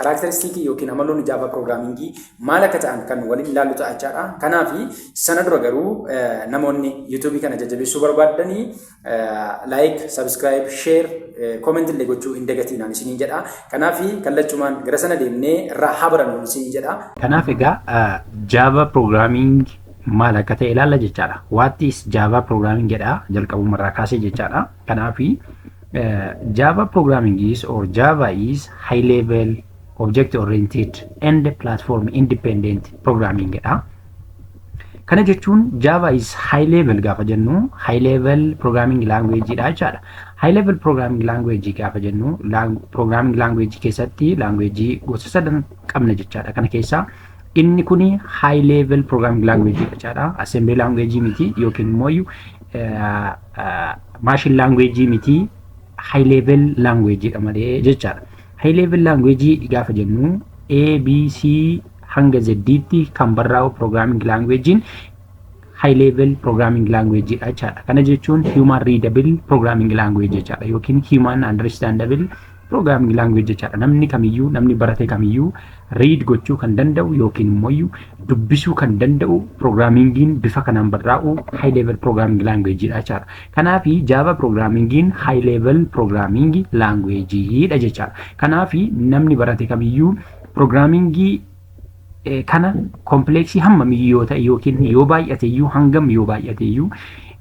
Karaakteristiikii ykn amaloonni Java Piroogiraamiingii maal akka ta'an kan waliin ilaallu ta'a jechaadha. Kanaaf sana dura garuu namoonni YouTube kana jajjabeessuu barbaaddanii like, subscribe, share, comment illee gochuu hin dagatiinaan isiniin jedha. Kanaaf kallachumaan gara sana deemnee irraa haa barannu isiniin jedha. Kanaaf egaa Java Programming maal akka ta'e ilaalla jechaadha. What is Java Programming jedha jalqabuma irraa kaasee jechaadha. Kanaaf Java programming is or Java is high level object oriented and platform independent programming dha. Kana jechuun Java is high level gaafa jennu high level programming language dha jechaadha. High level programming language gaafa jennu programming language keessatti language gosa sadan qabna jechaadha. Kana keessaa Inni kun high level programming language jechaadha. Assembly language miti yookiin immoo machine language miti high level language dha malee jechaadha. High level language gaafa jennu A, B, C hanga Z tti kan barraa'u programming language high level programming language dha jechaadha. Kana jechuun human readable programming language jechaadha yookiin human understandable Programming language jechaadha. Namni kamiyyuu, namni barate kamiyyuu read gochuu kan danda'u yookiin immoo iyyuu dubbisuu kan danda'u programmingiin bifa kanaan barraa'u high level programming language dha jechaadha. Kanaaf Java programmingiin high level programming language dha jechaadha. Kanaaf namni barate kamiyyuu programmingii eh, kana kompleeksii hammamiyyuu yoo ta'e yookiin yoo baay'ateyyuu hangam yoo baay'ateyyuu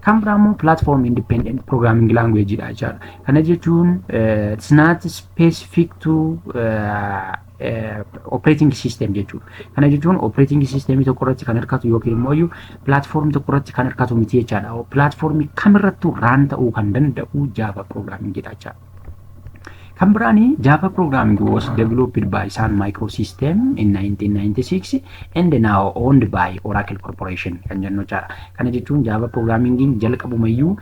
Kan biraa immoo platform independent programming language dha jechaadha. Kana jechuun it's not specific to operating system jechuudha. Kana jechuun operating system tokko irratti kan hirkatu yookiin immoo iyyuu platform tokko irratti kan hirkatu miti jechaadha. Platform kamirrattuu raan ta'uu kan danda'u Java programming dha jechaadha. Kan biraan Java programming was developed by Sun Microsystem in 1996 and now owned by Oracle Corporation kan jennu jechaadha. Kana jechuun Java programming jalqabumayyuu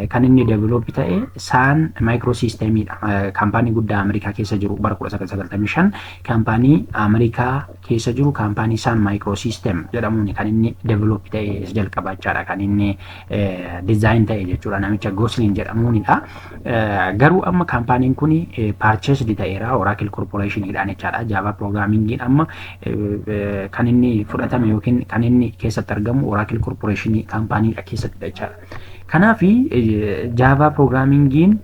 kan inni develop ta'e Sun Microsystem dha. Kaampaanii guddaa Ameerikaa keessa jiru bara 1995 kaampaanii Ameerikaa keessa jiru kaampaanii Sun Microsystem jedhamuun kan inni develop ta'e jalqaba jechaadha kan inni dizaayin ta'e jechuudha namicha Gosling jedhamuunidha. Garuu amma kaampaaniin kun paarcheesdi ta'eera Oracle Corporationidhaan jechaadha. Jaavaa piroogiraamingiin amma kan inni fudhatame yookiin kan inni keessatti argamu Oracle Corporation kaampaaniidha keessattidha jechaadha. Kanaaf jaavaa piroogiraamingiin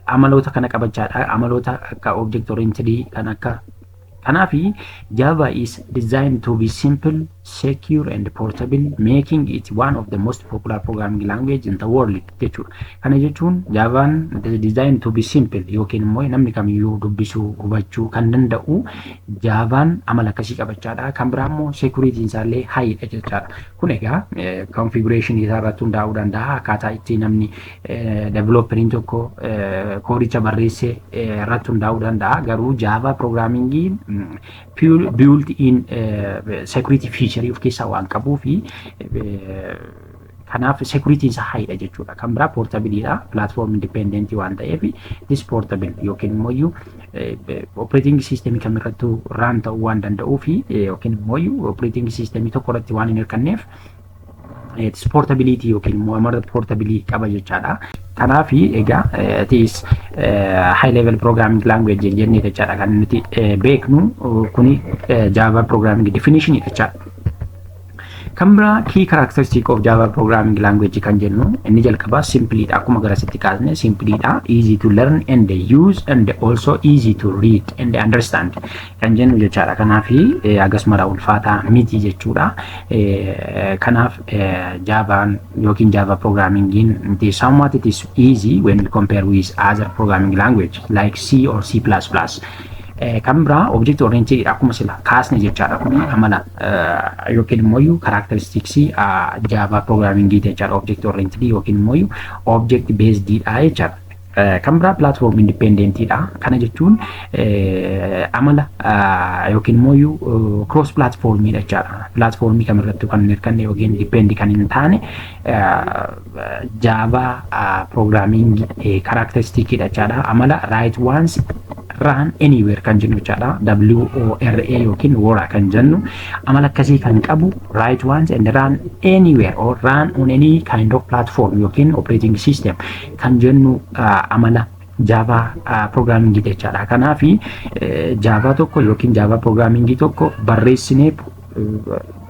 amaloota kana qabachaadha. Amaloota akka object oriented kan akka Kanaaf Java is designed to be simple, secure and portable, making it one of the most popular programming language in the world jechuudha. Kana jechuun Javaan designed to be simple yookiin immoo namni kamiyyuu dubbisuu, hubachuu kan danda'u Javaan amala akkasii qabachaadha. Kan biraa immoo security isaallee high dha jechaadha. Kun egaa configuration isaa irratti hundaa'uu danda'a akkaataa itti namni Developeriin tokko koodicha barreesse irratti hundaa'uu danda'a. Garuu Java programmingin built in security feature of keessaa waan qabuu fi kanaaf security isaa haidha jechuudha. Kan biraa portable dha. Platform independent waan ta'eef this portable yookiin immoo iyyuu operating system kam irrattuu run ta'uu waan danda'uu fi yookiin immoo iyyuu operating system tokko irratti waan hin hirkanneef Portability yookiin immoo amara portability qaba jechaadha. Kanaaf egaa tis high level programming language hin jenne jechaadha kan nuti beeknu kuni Java programming definition jechaadha. Kan biraa key characteristic of Java programming language kan jennu inni jalqabaa simply dha akkuma garasitti kaasne simply dha easy to learn and use and also easy to read and understand kan jennu jechaadha. Kanaaf hagas mara ulfaataa miti jechuudha. Kanaaf jaavaan yookiin jaava pirogiraamingiin miti somewhat it is easy when we compare with other programming language like C or C++. Kan biraa object oriented akkuma sila kaasne jechaadha kun amala yookiin immoo karaakteristiksii jaavaa pirogiraamingiiti jechaadha object oriented yookiin immoo object based dha jechaadha. Kan biraa platform independent dha. Kana jechuun amala yookiin immoo cross platform dha jechaadha. Platformii kamirrattuu kan hin hirkanne yookiin depend kan hin taane Java programming characteristic dha jechaadha. Amala right ones run anywhere kan jennu jechaadha. WORA yookiin wora kan jennu amala akkasii kan qabu right ones and run anywhere or run on any kind of platform yookiin operating system kan jennu amala jaavaa piroograamingii jechaadha. Kanaaf jaavaa tokko yookiin jaavaa piroograamingii tokko barreessinee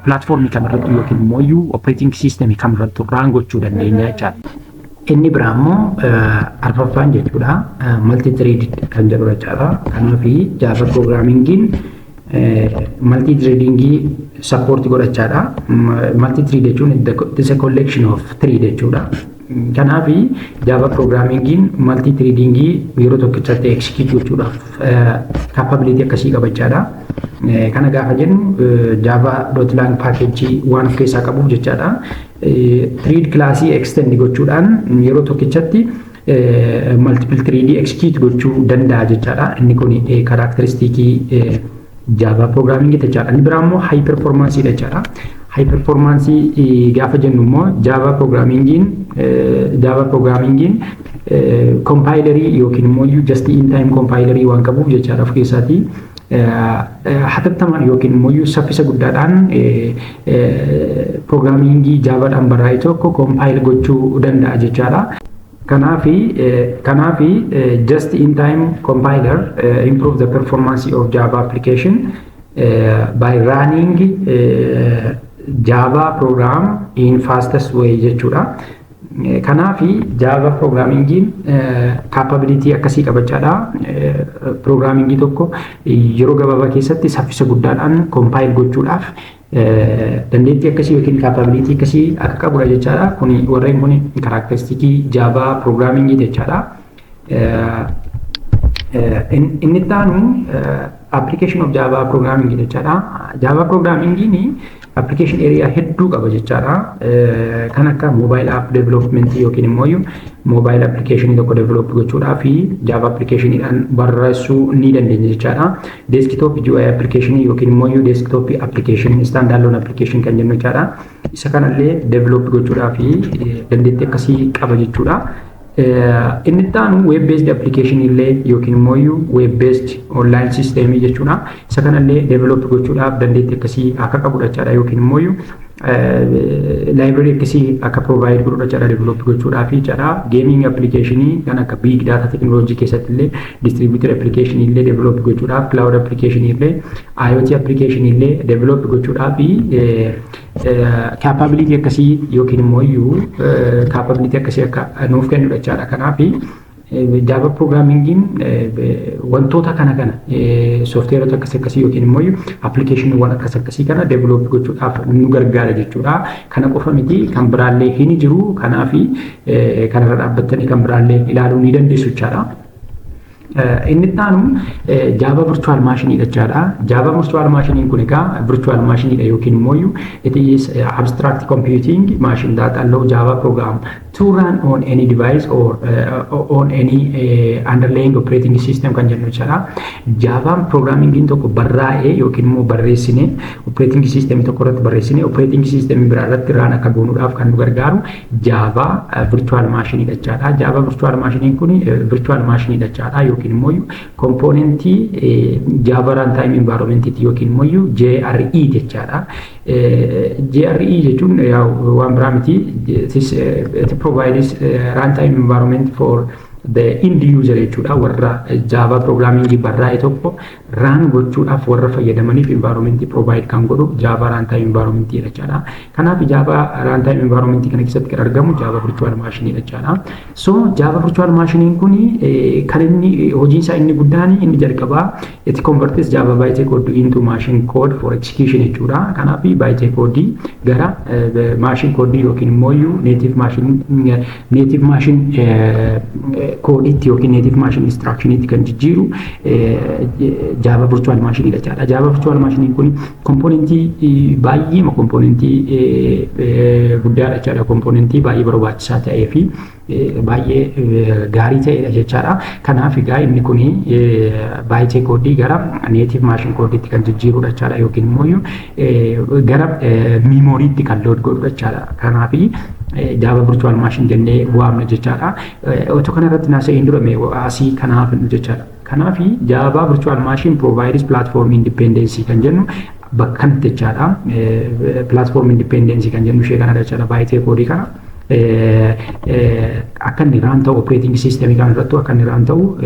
pilaatfoormii kamirratti yookiin immoo iyyuu opereeting siisteemii kamirratti raan gochuu dandeenya jechaadha. Inni biraa immoo arfaffaan jechuudha malti tireedid kan jedhu jechaadha. Kanaaf jaavaa piroograamiingiin malti tireedingii sappoorti godhachaadha. Malti tirii jechuun it's a collection of three jechuudha. Kanaaf Java Programming'n multi threading yeroo tokkichatti execute gochuudhaaf capability akkasii qaba jechaadha. Kana gaafa jennu java.lang package waan of keessaa qabuuf jechaadha. Thread class extend gochuudhaan yeroo tokkichatti multiple thread execute gochuu danda'a jechaadha. Inni kun karakteristikii Java programming jechaadha. Inni biraa immoo high performance dha jechaadha. High performance gaafa jennu immoo Java programmingin Java programmingin compilerii yookiin immoo just in time compilerii waan qabuuf jechaadha of keessaatii. hatattamaan yookiin immoo saffisa guddaadhaan piroogiraamingii jaabaadhaan barraa'e tokko koompaayil gochuu danda'a jechaadha. Kanaafi, kanaafi just in time compiler uh, improve the performance of Java application uh, by running uh, Java program in fastest way jechuudha. Kanaafi Java programmingiin capability akkasii qabachaadha. Programmingii tokko yeroo gabaabaa keessatti saffisa guddaadhaan compile gochuudhaaf Dandeettii akkasii yookiin kaappaabiliitii akkasii akka qabudha jechaadha. Kuni warreen kuni karaakteristikii jaavaa piroogiraamingii jechaadha. Inni itti aanu application of Java programming jechaadha. Java programming application area hedduu qaba jechaadha. Kan akka mobile app development yookiin immoo mobile application tokko develop gochuudhaa fi Java application dhaan barreessuu ni dandeenya jechaadha. Desktop GUI application yookiin immoo iyyuu desktop application stand alone application kan jennu jechaadha. Isa kanallee develop gochuudhaaf dandeettii akkasii qaba jechuudha. Inni itti aanu web based application illee yookiin immoo iyyuu web based online system jechuudha. Isa kanallee develop gochuudhaaf dandeettii akkasii akka qabudha jechaadha yookiin immoo iyyuu Library akkasii akka provide godhuudha carraa develop gochuudhaa fi carraa gaming application kan akka big data technology keessatti illee distributed application illee develop gochuudhaaf cloud application illee IoT application illee develop gochuudhaa fi capability akkasii yookiin immoo iyyuu capability akkasii akka nuuf kennudha jechaadha kanaaf Java Programmingin wantoota kana kana soofteerota akkas akkasii yookiin immoo appilikeeshiniiwwan akkas akkasii kana develop gochuudhaaf nu gargaara jechuudha. Kana qofa miti kan biraallee hin jiru kanaaf kanarra dhaabbattanii kan biraallee ilaaluu ni dandeessu jechaadha. Inni itti aanu Java Virtual Machine jechaadha. Java Virtual Machine kun egaa Virtual Machine yookiin immoo it is abstract computing machine that allow Java program to run on any device or uh, on any uh, underlying operating system kan jennu jechaadha. Jaavaan piroograamiingiin tokko barraa'ee yookiin immoo barreessine operating system tokko irratti barreessine operating system biraa irratti raan akka goonuudhaaf kan nu gargaaru jaavaa virtual machine jechaadha. Jaavaa virtual machine kun virtual machine jechaadha yookiin immoo kompoonentii jaavaa runtime environment yookiin immoo JRE jechaadha. GRE jechuun yaa'u waan biraa miti. It provides runtime environment for the end user jechuudha warra Java programming barraa'e tokko raan gochuudhaaf warra fayyadamaniif environment provide kan godhu Java runtime environment jechaadha. Kanaaf Java runtime environment kana keessatti kan argamu Java virtual machine jechaadha. So Java virtual machine kun kan inni hojiin isaa inni guddaan inni jalqabaa It converts Java byte code into machine code for execution jechuudha. Kanaaf byte code gara machine code yookiin immoo iyyuu native machine native machine code itti yookiin native machine instruction itti kan jijjiiru Java virtual machine dha jechaadha. Java virtual machine kun komponentii baay'eema komponentii guddaadha jechaadha. Komponentii baay'ee barbaachisaa ta'ee fi baay'ee gaarii ta'edha jechaadha. Kanaaf egaa inni kun baay'ee koodii gara neetiif maashin koodiitti kan jijjiirudha jechaadha yookiin immoo gara miimooriitti kan lood godhudha jechaadha. Kanaaf jaava virtual maashin jennee waamna jechaadha. Otoo kanarratti naasa'een dura asii kanaaf jechaadha. Kanaaf Java Virtual Machine provides platform independence kan jennu bakka kanatti jechaadha. Platform independence kan jennu ishee kanadha jechaadha baay'ee koodii kana. Akka inni raan ta'u operating system kan irratti akka inni raan ta'u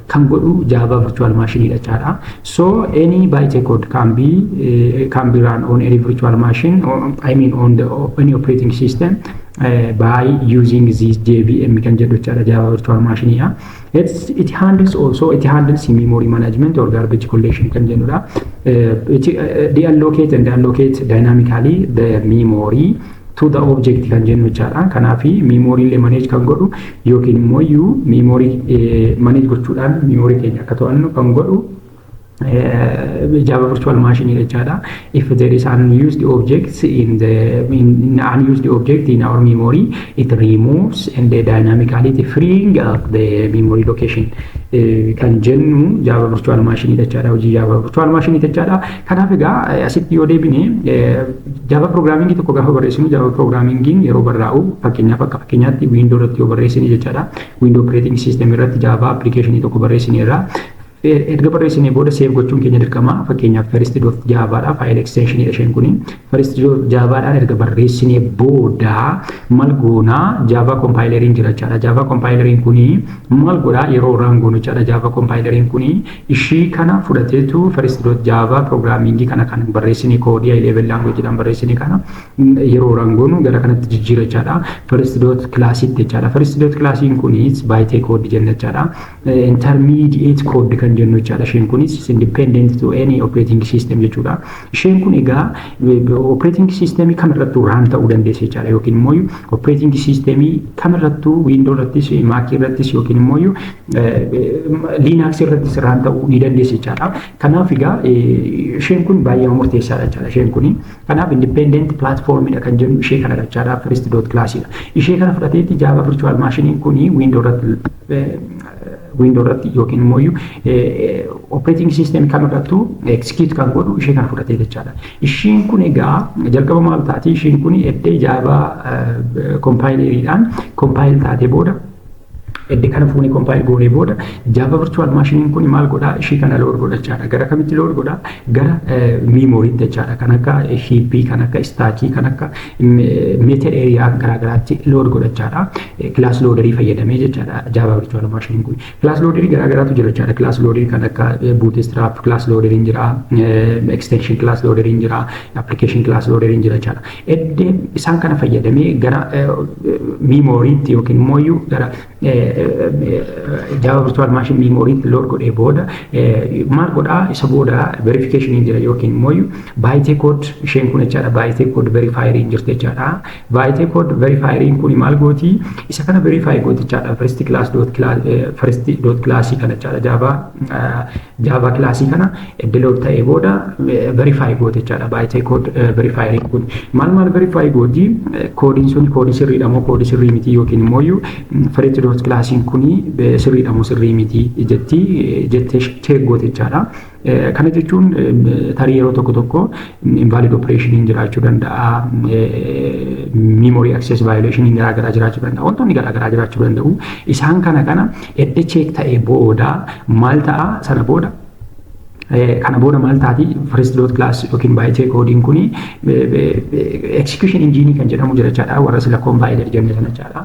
kan godhu Java Virtual Machine dha jechaadha. So any byte code can be can be run on any virtual machine or, I mean on the any operating system uh, by using this JVM kan jedhu jechaadha Java Virtual Machine dha. It's, it handles also it handles memory management or garbage collection kan jennudha. It uh, deallocate and allocate dynamically the memory to the object kan jennu jechaadha. Kanaaf memory illee manage kan godhu yookiin immoo iyyuu memory manage gochuudhaan memory keenya akka to'annu kan godhu Java virtual machine jechaadha. If there is an unused object in the in, in unused object in our memory, it removes and dynamically it freeing up the memory location. Kan jennu Java virtual machine jechaadha. Hojii Java virtual machine jechaadha. Kanaaf egaa asitti yoo deebine Java programming tokko gaafa barreessinu Java programmingin yeroo barraa'u fakkeenyaaf akka fakkeenyaatti Windows irratti yoo barreessine jechaadha. Windows operating system irratti Java application tokko barreessineerra. Erga barreessinee booda save gochuun keenya dirqama. Fakkeenyaaf first dot java dha. File extension dha isheen kuni. First dot java dhaan erga barreessinee booda mal goona java compileriin jira jechaadha. Java compileriin kuni mal godha yeroo run goonu jechaadha. Java compileriin kuni ishii kana fudhateetu first dot java programming kana kan barreessinee koodii high level language dhaan barreessinee kana yeroo run goonu gara kanatti jijjiira jechaadha. First dot class itti jechaadha. First dot classiin kunis baay'ee koodii jenna jechaadha. intermediate code kan jennu jechaadha. Isheen kunis is independent to any operating system jechuudha. Isheen kun egaa operating system kamirrattuu raan ta'uu dandeessi jechaadha yookiin immoo operating system kamirrattuu window irrattis mac irrattis yookiin immoo linux irrattis raan ta'uu ni dandeessi jechaadha. Kanaaf egaa isheen kun baay'ee murteessaadha jechaadha isheen kun. Kanaaf independent platform dha kan jennu ishee kana jechaadha first dot class dha. Ishee kana fudhateetti jaava virtual machine kun window irratti Window irratti yookiin immoo operating system kam irrattu execute kan godhu ishee kana fudhatee jechaadha. Ishiin kun egaa jalqaba maal taati? Ishiin kun eddee jaabaa kompaayileeriidhaan kompaayil taatee booda edde kana fuuni kompaayil goonee booda jaava virtual maashiniin kun maal godhaa ishii kana lood godhachaadha gara kamitti lood godhaa gara miimooriitti jechaadha kan akka hiippii kan akka istaakii kan akka meeta eeriyaa garaagaraatti lood godhachaadha class loaderii fayyadamee jechaadha Java virtual machine kun. Class loaderii garaa garaatu jira jechaadha. Class loaderii kan akka bootstrap class loaderiin jira, extension class loaderiin jira, application class loaderiin jira jechaadha. Edde isaan kana fayyadamee gara miimooriitti yookiin immoo iyyuu gara Java virtual machine miimooriitti load godhee booda maal godhaa isa booda verification jira yookiin immoo iyyuu baayitee code isheen kun jechaadha baayitee code verifier hin jirte jechaadha. Vaayitee kood verifaayiriin kuni maal gooti? Isa kana verifaayi gootichaadha. First class dot first dot classii kana jechaadha. Jaavaa jaavaa kilaasii kana eddelood ta'ee booda verifaayi gootichaadha. Vaayitee kood verifaayiriin kuni maal maal verifaayi gooti? Koodiin sun koodii sirriidha moo koodii sirrii miti yookiin immoo iyyuu first dot kilaasiin kuni sirriidha moo sirrii miti jetti jettee cheek gootichaadha. Kana jechuun tarii yeroo tokko tokko invalid operation jiraachuu danda'a, memory access violation garaa garaa jiraachuu danda'a, wantoonni garaa garaa jiraachuu danda'u. Isaan kana kana edda cheek ta'e booda maal ta'a sana booda kana booda maal taati first dot class yookiin baay'ee koodiin kun execution engine kan jedhamu jira jechaadha warra sila compiler jenne sana jechaadha.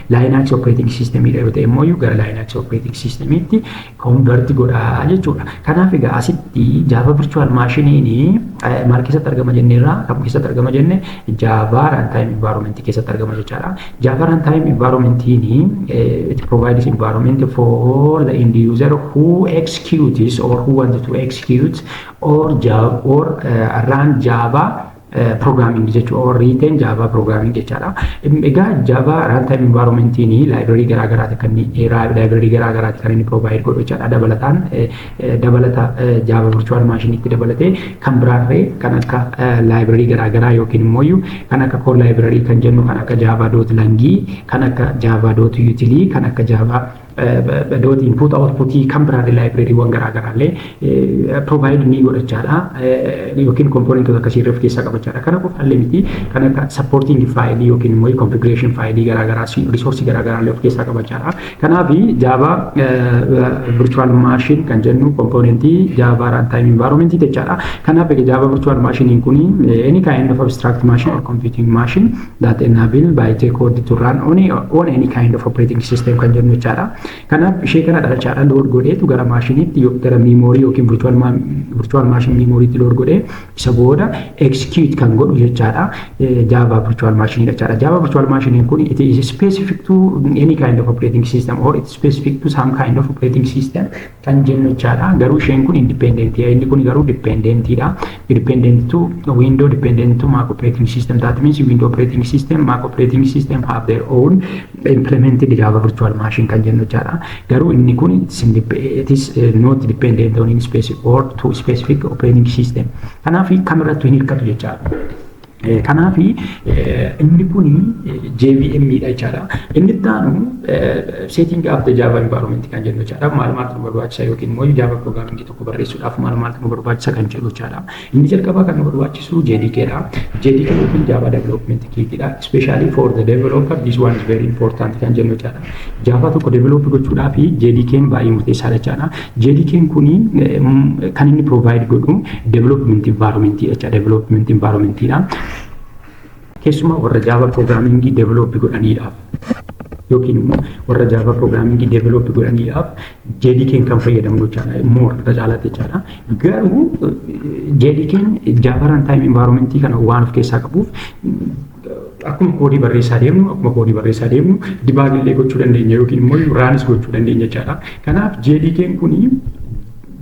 Linux operating system dha yoo ta'e immoo gara Linux operating system tti convert godhaa jechuudha. Kanaaf egaa asitti Java virtual machine maal keessatti argama jenne irraa kam keessatti argama jenne Java runtime environment keessatti argama jechaadha. Java runtime environment it provides environment for the end user who executes or who wants to execute or Java or uh, run Java Programming jechuun or written Java programming jechaadha. Egaa Java runtime environment ni library garaa garaati kan inni library garaa garaati kan inni provide godhu jechaadha. Dabalataan dabalata Java virtual machine itti dabalatee kan biraarree kan akka library garaa garaa yookiin immoo kan akka core library kan jennu kan akka Java dot langii kan akka Java dot utilii kan akka Java doot input output kan biraallee laayibireeriiwwan garaa garaallee provide ni godhachaadha yookiin kompoonentoota akkasii irra of keessaa qabachaadha. Kana qofaallee miti kan akka supporting faayilii yookiin immoo configuration faayilii garaa garaa risoorsii garaa garaallee of keessaa qabachaadha. Kanaaf jaavaa virtual machine kan jennu kompoonentii jaavaa runtime environment jechaadha. Kanaaf jaavaa virtual machine kun any kind of abstract machine or computing machine that enable by J code to run on, on any kind of operating system kan jennu jechaadha. Kanaaf ishee kana dhalchaadha load godheetu gara maashiniitti gara miimoorii yookiin virtual machine miimooriitti load godhee isa booda execute kan godhu jechaadha. Java virtual machine jechaadha. Java virtual machine kun it is specific to any kind of operating system or it is specific to some kind of operating system kan jennu jechaadha. Garuu isheen kun indipendentiidha. Inni kun garuu dipendentiidha. Dependent to window dependent to Mac operating system. That means window operating system, Mac operating system have their own implemented Java virtual machine kan jennu jechaadha. Garuu inni kun it is not dependent on any specific or to specific operating system. Kanaaf kamirrattu hin hirkatu jechaadha. Kanaaf inni kun JVM dha jechaadha. Inni itti aanu setting up the Java environment kan jennu jechaadha. Maal maaltu nu barbaachisa yookiin immoo Java programming tokko barreessuudhaaf maal maaltu nu barbaachisa kan jedhu jechaadha. Inni jalqabaa kan nu barbaachisu JDK dha. JDK yookiin Java development kit dha. Especially for the developer this one is very important kan jennu jechaadha. Java tokko develop gochuudhaaf JDK'n baay'ee murteessaadha jechaadha. JDK'n kun kan inni provide godhu development environment jecha development environment dha. Keessumaa warra Java programming develop godhaniidhaaf yookiin immoo warra Java programming develop godhaniidhaaf JDK'n kan fayyadamnu jechaadha. More irra caalaatti jechaadha. Garuu JDK'n Java runtime environment kana waan of keessaa qabuuf Akkuma koodii barreessaa deemnu akkuma koodii barreessaa deemnu dibaagillee gochuu dandeenya yookiin immoo raanis gochuu dandeenya jechaadha. Kanaaf JDK'n kun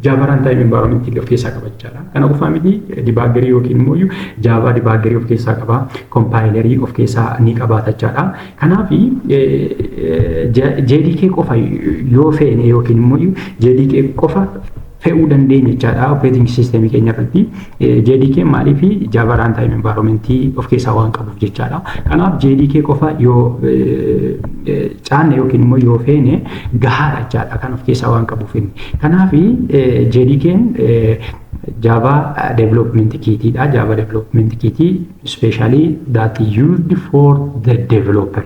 Java runtime environment of keessaa qaba jechaadha. Kana qofaa miti dibaagerii yookiin immoo Java dibaagerii of keessaa qaba, kompaayilerii of keessaa ni qabaata jechaadha. Kanaaf JDK qofa yoo feene yookiin immoo JDK qofa fe'uu dandeenya jechaadha operating system keenya irratti JDK maaliif Java runtime environment of keessaa waan qabuuf jechaadha. Kanaaf JDK qofa yoo caanne yookiin immoo yoo feene gahaadha jechaadha kan of keessaa waan qabuuf inni. Kanaaf JDK'n Java development kit dha. Java development kit specially that used for the developer.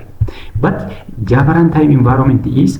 But Java runtime environment is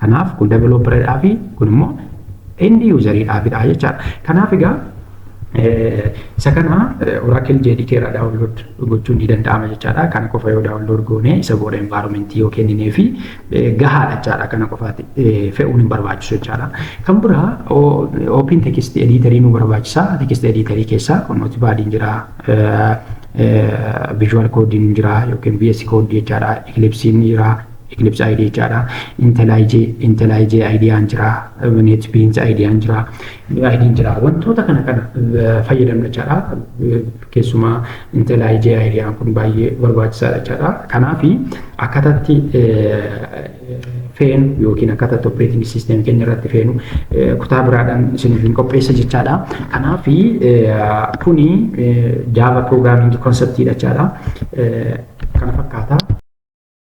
Kanaaf kun developer dhaa fi kun immoo end user dhaa fi dhaa jechaadha. Kanaaf egaa isa kana Oracle JDK irraa download gochuun ni danda'ama jechaadha. Kana qofa yoo download goone isa booda environment yoo kenninee fi gahaadha jechaadha. Kana qofaatti fe'uun hin barbaachisu jechaadha. Kan biraa open text editor nu barbaachisa. Text editor keessaa kun notepad hin jira. Visual code hin jira yookiin VS code jechaadha. Eclipse hin jira. Eclipse ID jechaadha. Intelij Intelij IDaan jira. NetBeans IDaan jira. IDn jira. Wantoota kana kana fayyadamna jechaadha. Keessumaa Intelij IDaan kun baay'ee barbaachisaadha jechaadha. Kanaaf akkataatti feenu yookiin akkataatti operating system keenya irratti feenu kutaa biraadhaan isiniif hin qopheessa jechaadha. Kanaaf kuni Java programming conceptidha jechaadha. Kana fakkaata.